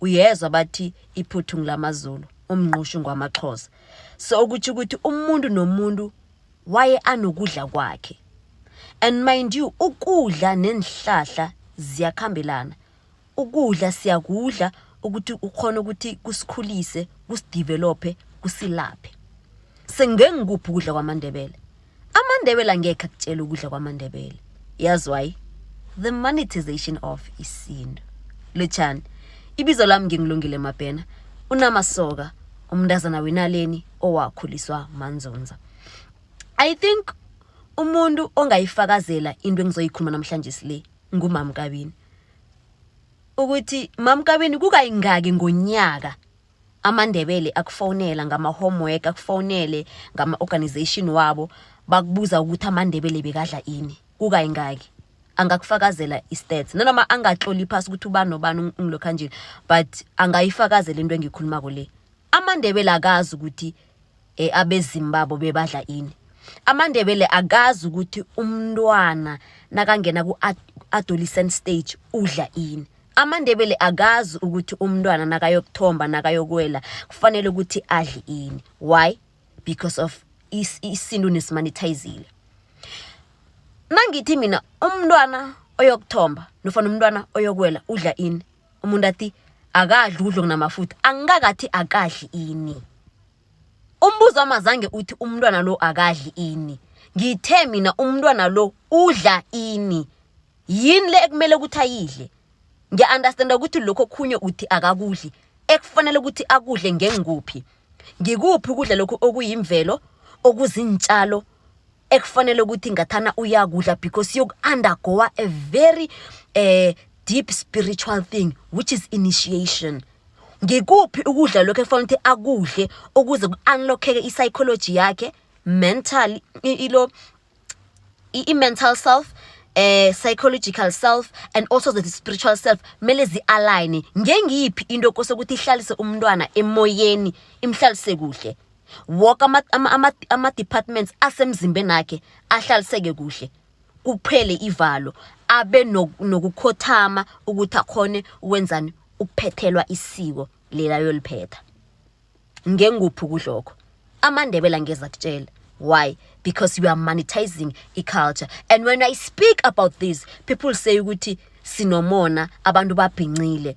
uyezwa bathi iphuthu ngilamazulu umnqushu ngwamaxhosa so ukuthi ukuthi umuntu nomuntu waye anokudla kwakhe and mind you ukudla nenhlahla ziyakhambelana ukudla siyakudla ukuthi ukhona ukuthi kusikhulise kusidevelophe kusilaphe sengike ngikuphi ukudla kwamandebele amandebele angekhe akutshela ukudla kwamandebele yazi why the monetization of isintu lotshani ibizo lami ngingilungile mabhena unamasoka umntazana wenaleni owakhuliswa manzunza i think umuntu ongayifakazela into engizoyikhuluma namhlanje sile ngumamkabini ukuthi mamkabini kukayingaki ngonyaka amaNdebele akufonela ngama-homework akufonele ngama-organization wabo bakubuza ukuthi amaNdebele bekadla ini kukayingaki angakufakazela i-stats nanoma angatloli phasi ukuthi ubani nobani ungilokhanjini but angayifakazela into engiyikhulumako le amaNdebele akazi ukuthi e, abezimu babo bebadla ini amandebele akazi ukuthi umntwana nakangena ku-adolescent stage udla ini amandebele akazi ukuthi umntwana nakayokuthomba nakayokwela kufanele ukuthi adle ini why because of isintu nesimanithayizile nangithi mina umntwana oyokuthomba nofana umntwana oyokwela udla ini umuntu athi akadli ukudla okunamafutha angikakathi akadli ini umbuzo wami azange uthi umntwana lo akadli ini ngithe mina umntwana lo udla ini yini le ekumele ukuthi ayidle ngiya-understanda ukuthi lokho khunye uthi akakudli ekufanele ukuthi akudle ngengikuphi ngikuphi ukudla lokhu okuyimvelo okuzintshalo ekufanele ukuthi ngathana uyakudla because yoku-undergoa a very uh, deep spiritual thing which is initiation ngikuphi ukudla lokho ekufanele ukuthi akudle ukuze ku-unlockeke i-psychology yakhe mental ilo i-mental self eh psychological self and also the spiritual self mele zi-align ngengiyiphi into kosokuthi ihlalise umntwana emoyeni imhlalise kuhle wonke ama-departments ama, ama asemzimbeni akhe ahlaliseke kuhle kuphele ivalo abe nokukhothama ukuthi akhone ukwenzani ukuphethelwa isiko lela yoliphetha ngenguphi ukudlokho amandebela angeza kutshela why because you are monetizing i-culture and when i speak about this people say ukuthi sinomona abantu babhincile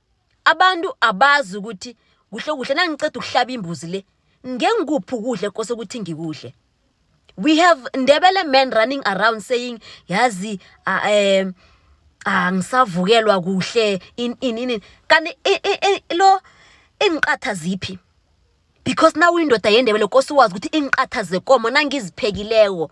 Abantu abazi ukuthi kuhle kuhle nangiceda ukuhlaba imbuzi le ngengikuphi ukudla ekose ukuthi ngikudle. We have Ndebele men running around saying yazi uh, um angisavukelwa ah, kuhle in in in kanti lo ingiqatha ziphi because nawe indoda yendebele kosi wazi ukuthi ingiqatha zekomo nangiziphekileko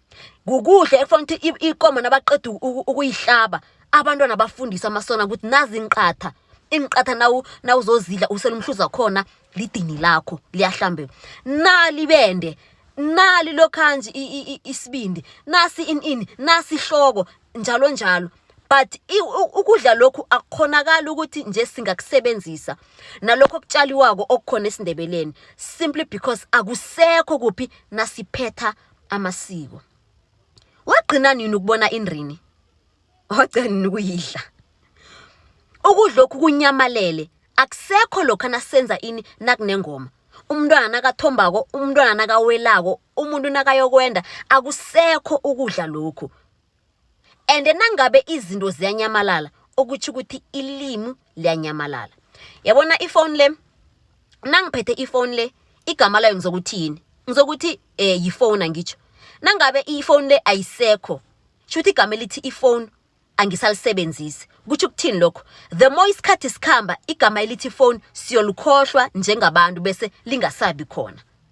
kukuhle ekufanele ukuthi ikomo nabaqeda ukuyihlaba abantwana bafundise amasona ukuthi nazi inqatha inqatha nawu nawuzozidla usela umhluza khona lidini lakho liyahlambe nali bende nali lokhanje isibindi nasi in in nasi ihloko njalo njalo but ukudla lokhu akukhonakali ukuthi nje singakusebenzisa nalokho okutshaliwako okukhona esindebeleni simply because akusekho kuphi nasiphetha amasiko wagcina nini ukubona indrini wagcina nini ukuyidla ukudla lokhu kunyamalele akusekho lokho nasenza ini nakunengoma umntwana nakathombako umntwana nakawelako umuntu nakayokwenda akusekho ukudla lokhu and nangabe izinto ziyanyamalala okutsho ukuthi ilimi liyanyamalala yabona ifoni le nangiphethe ifoni le igama layo ngizokuthi yini ngizokuthi um eh, yifoni angitsho nangabe ifoni le ayisekho sho ukuthi igama elithi ifoni angisalisebenzisi kutsho ukuthini lokho the more isikhathi sikhamba igama elithi ifoni siyolukhohlwa njengabantu bese lingasabi khona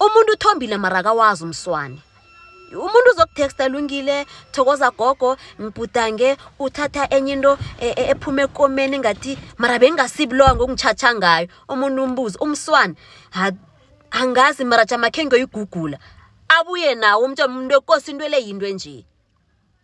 umuntu uthombile mara akawazi umswane umuntu uzokutexta lungile thokoza gogo ngibhudange uthatha enye into e, e, ephuma ekomeni ngathi mara bengingasibulowa ngokungichatsha ngayo umuntu umbuzi umswana angazi mara jamakhe ngiyoyigugula abuye nawo umtshana umuntu ekosi into eleyinto enje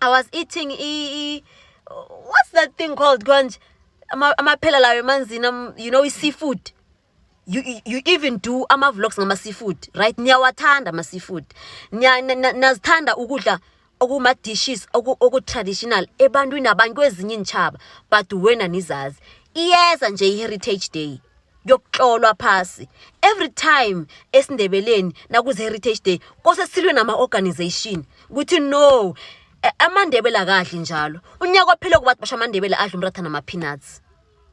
I was eating e, what's that thing called konje amaphela lawo emanzini um, you know i-seafood you, you even do ama-vlogs ngama-seafood right niyawathanda ama-seafood nazithanda ukudla okuma-dishes oku-traditional ebantwini abantu kwezinye iintshaba but wena nizazi iyeza nje i-heritage day kuyokuhlolwa phasi every time esindebeleni nakuze heritage day kose silwe nama organization ukuthi no eh, amandebela kahle njalo unyaka ophele kubathi basho amandebela adla umratha nama peanuts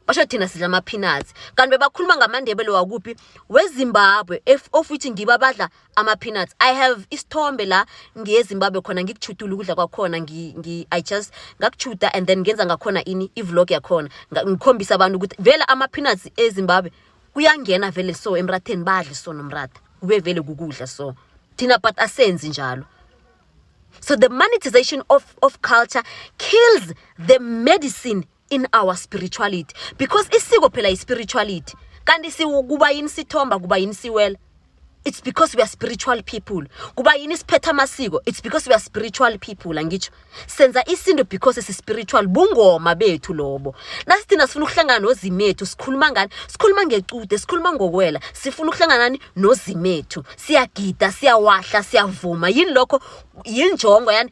basho thina sidla ama peanuts kanti bebakhuluma ngamandebele wakuphi wezimbabwe of which ngiba badla ama-peanuts i have isithombe la ngiyezimbabwe khona ngikuchudula ukudla kwakhona i just ngakuchuda and then ngenza ngakhona ini i-vlog yakhona ngikhombisa abantu ukuthi vele ama-peanuts ezimbabwe kuyangena vele so emratheni badle so nomratha kube vele kukudla so thina but asenzi njalo so the monetization of, of culture kills the medicine in our spirituality because isiko phela ispirituality kanti sikuba yini sithomba kuba yini siwela it's because we are spiritual people kuba yini siphetha amasiko it's because we are spiritual people angitsho senza isinto because si spiritual bungoma bethu lobo nasithina sifuna ukuhlangana nozimethu sikhuluma ngani sikhuluma ngecude sikhuluma ngokwela sifuna ukuhlangana nani nozimethu siyagida siyawahla siyavuma yini lokho yinjongo yani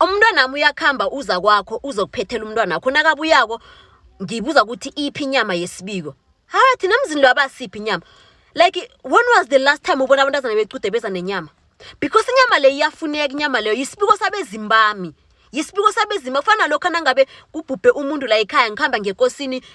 umntwanami uyakuhamba uza kwakho uzokuphethela umntwana wakho nakabuyako ngibuza ukuthi iphi inyama yesibiko hayi thina mzini lwabasiphi inyama like when was the last time ubona abantazana becude beza nenyama because inyama leyo iyafuneka inyama leyo yisibiko sabezimu bami yisibiko sabezimu kufana lokho nangabe kubhubhe umuntu la ekhaya ngihamba ngekosini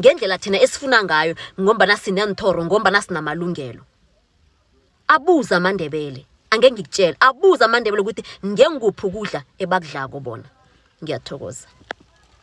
ngendlela thina esifuna ngayo ngombana sineenthoro ngombana sinamalungelo abuze amandebele angeke ngikutshele abuze amandebele ukuthi ngengikuphi ukudla ebakudlako bona ngiyathokoza